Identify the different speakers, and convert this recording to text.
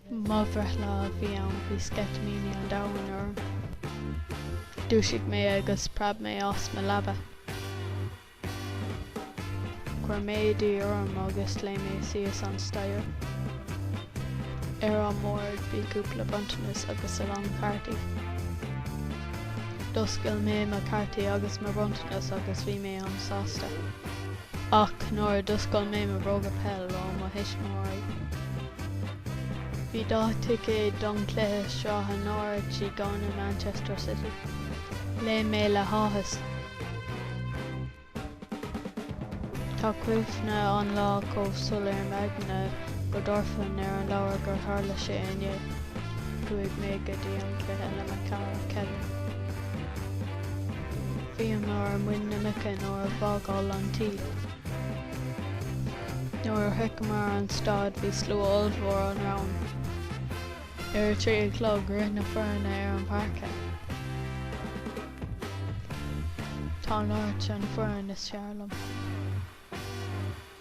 Speaker 1: Mo bhreithlá a bhí ann, bhí sceitimíní an domhain orm. Dhúisigh mé agus phreab mé as mo leaba. Chuir mé éadaí orm agus léim mé síos an staighre. Ar an mbord bhí cúpla bronntanas agus a lán cartaí. D'oscail mé mo cartaí agus mo bhronntanas agus bhí mé an sásta. Ach nuair a d'oscail mé mo bhróga peil ó mo thuismitheoirí bhí dhá ticéad don cluiche sraithe Norwich i gcoinne Manchester City. Léim mé le háthas. Tá cuimhne an lá chomh soiléir i m'aigne go dtabharfainn ar an leabhar gur tharla sé inné. Chuaigh mé go dtí an cluiche le mo chara Kevin. Bhíomar ar mhuin na muice nuair a bhí ag fágáil an tí. Nuair a shroicheamar an staid bhí slua ollmhór romhainn. Ar a trí a chlog rith na foirne ar an páirc. Tá Norwich an fhoireann is fearr liom.